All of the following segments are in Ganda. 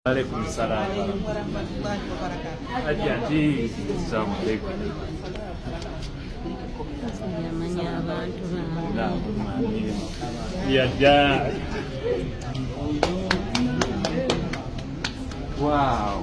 Alaikum salam. Ajati. Assalamu alaikum. Ya ja. Wow.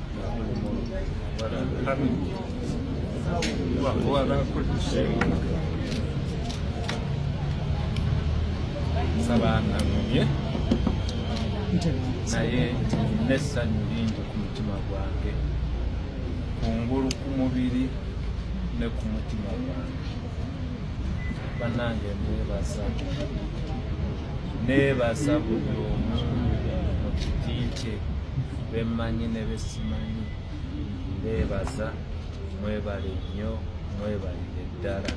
sabanamumye naye nessanyu lingi ku mutima gwange kungulu ku mubiri ne ku mutima gwange banange mwebaza neebasa buli omu mu kiti kye bemmanyi ne besimanyi neebaza mwebale nnyo mwebalire ddala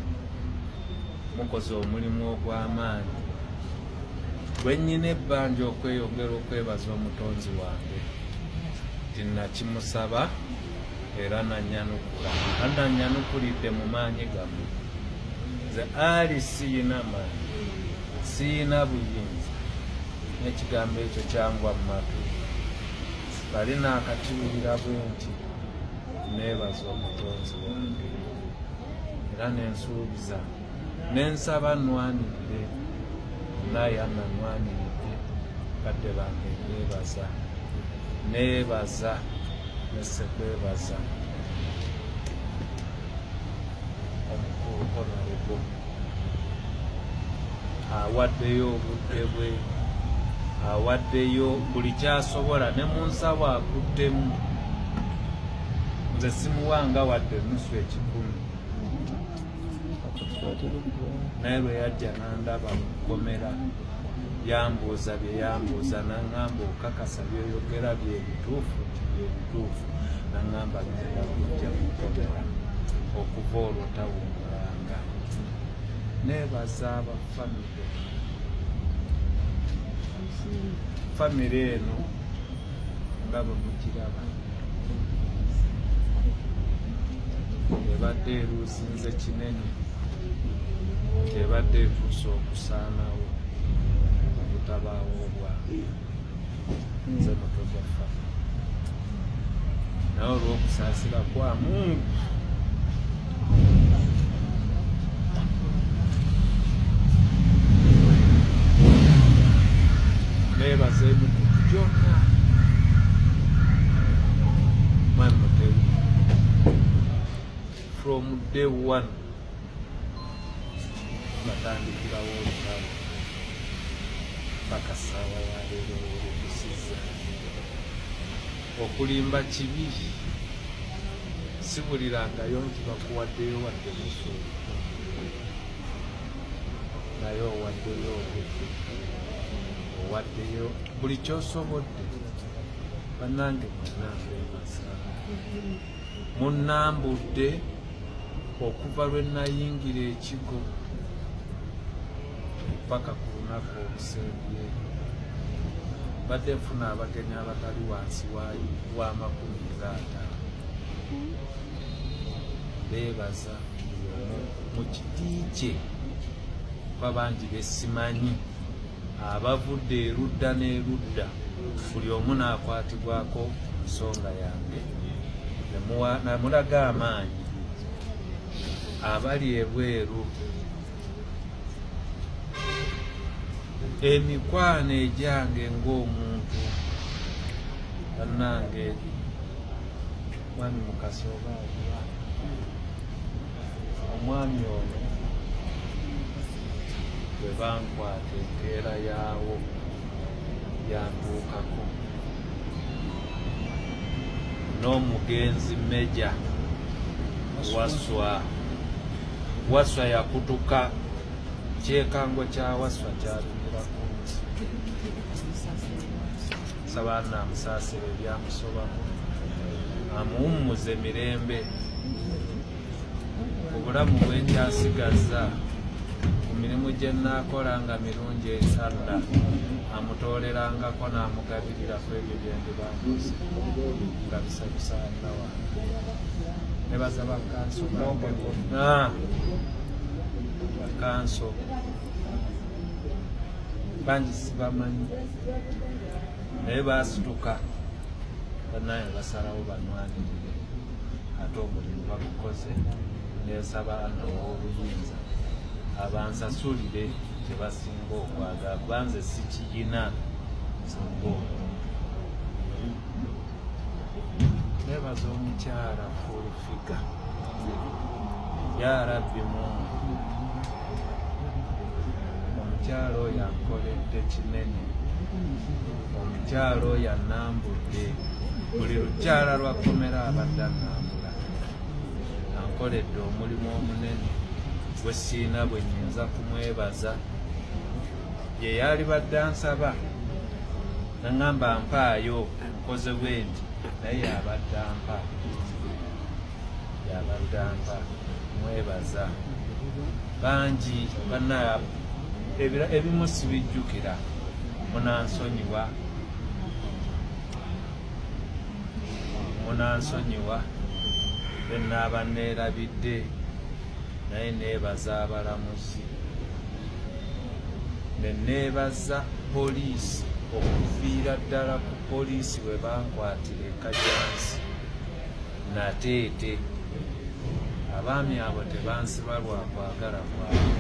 mukoze omulimu ogw'amaanyi bwe nnyina ebbanja okweyongera okwebaza omutonzi wange nti nakimusaba era nanyanukula ananyanukulidde mu maanyi gamu nze ali siyina maanyi siyina buyinza nekigambo ekyo kyangwa mu matu bali naakakiwulira bwe nti neebaza omutonzi wange era nensuubiza nensaba nwanidde nayana nwanidde kadde bange nebaza nebaza nesekwebaza omukulu honarebo awaddeyo obudde bwe awaddeyo buli kyasobola ne mu nsabo akuddemu nze simuwanga wadde nusu ekikumi naye lwe yajja nandaba mukomera yambuuza bye yambuuza nangamba okakasa byoyogera byebituufu nti byebituufu nangamba genda kujja mukomera okuva olwo tawungulanga nebaza abafamire famire eno ndaba mukiraba ebadde eruusinze kinene ebadde etuuse okusaanawo obutabaawo obwamu nze mutwe gwaffa nawe olwokusaasira kwamungu from day one batandikirawo olutalo paka saawa yaleero olutusiza okulimba kibi sibulirangayo nti bakuwaddeyo wadde musu naye owaddeyo obudde owaddeyo buli kyosobodde banange munangeasa munambudde okuva lwe nayingira ekigo paka ku lunaku olusembye mbadde nfuna abagenyi abatali wansi wa makumi nga ataano beebaza mu kiti kye kuba bangi besimanyi abavudde erudda n'erudda buli omu n'akwatibwako nsonga yange namulaga amaanyi abali ebweru emikwano egyange ng'omuntu bannange mwami mukasi oba aliwa omwami ono bwe bankwata empeera yaawo yantuukako n'omugenzi meja waswa Waswa yakutuka kyekango kya Waswa kyatumirako saba namusaasira ebyamusobako amuwummuze mirembe obulamu bwenkyasigaza ku mirimu gye nnaakola nga mirungi ensadda amutoolerangako n'amugabirirako ebyo bye ndibambuze nga bisanyusaani nebaza bakanso bakanso bangi sibamanyi naye basituka banaye basalawo banwanirire ate omulimu bagukoze nesaba ana owobuyinza abansasulire kyebasinga okwagala kubanze sikiyina singa omuntu nebaza omukyala fulfiga yarabbi mungu omukyala oyo ankoledde kinene omukyala oyo anambudde buli lukyala lwakomera abadde anambula ankoledde omulimu omunene gwe siina bwe nyinza kumwebaza ye yalibadde ansaba nangamba mpaayo nkoze bwenti naye yabadde ampa yabadde ampa mwebaza bangi bana ebimu sibijjukira munansonyiwa munansonyiwa benaaba neerabidde naye neebaza abalamuzi neneebaza poliisi okuviira ddala ku poliisi we bankwatira ekajansi nateete abaami abo tebansiba lwakwagala kwabo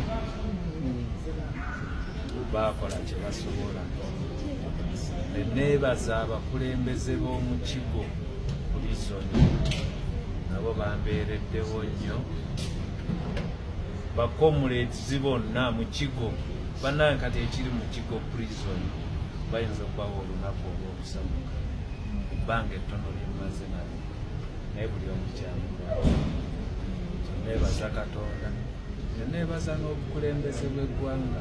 baakola kye basobola neneebaza abakulembeze b'omu kigo pulizoni nabo bambeereddewo nnyo bakomuleti zibonna mu kigo banange kati ekiri mu kigo prison bayinza okubawo olunaku olwokusamuka ebbanga ettono lyemaze nalo naye buli omukyamu nebaza katonda nenebaza n'obukulembeze bw'eggwanga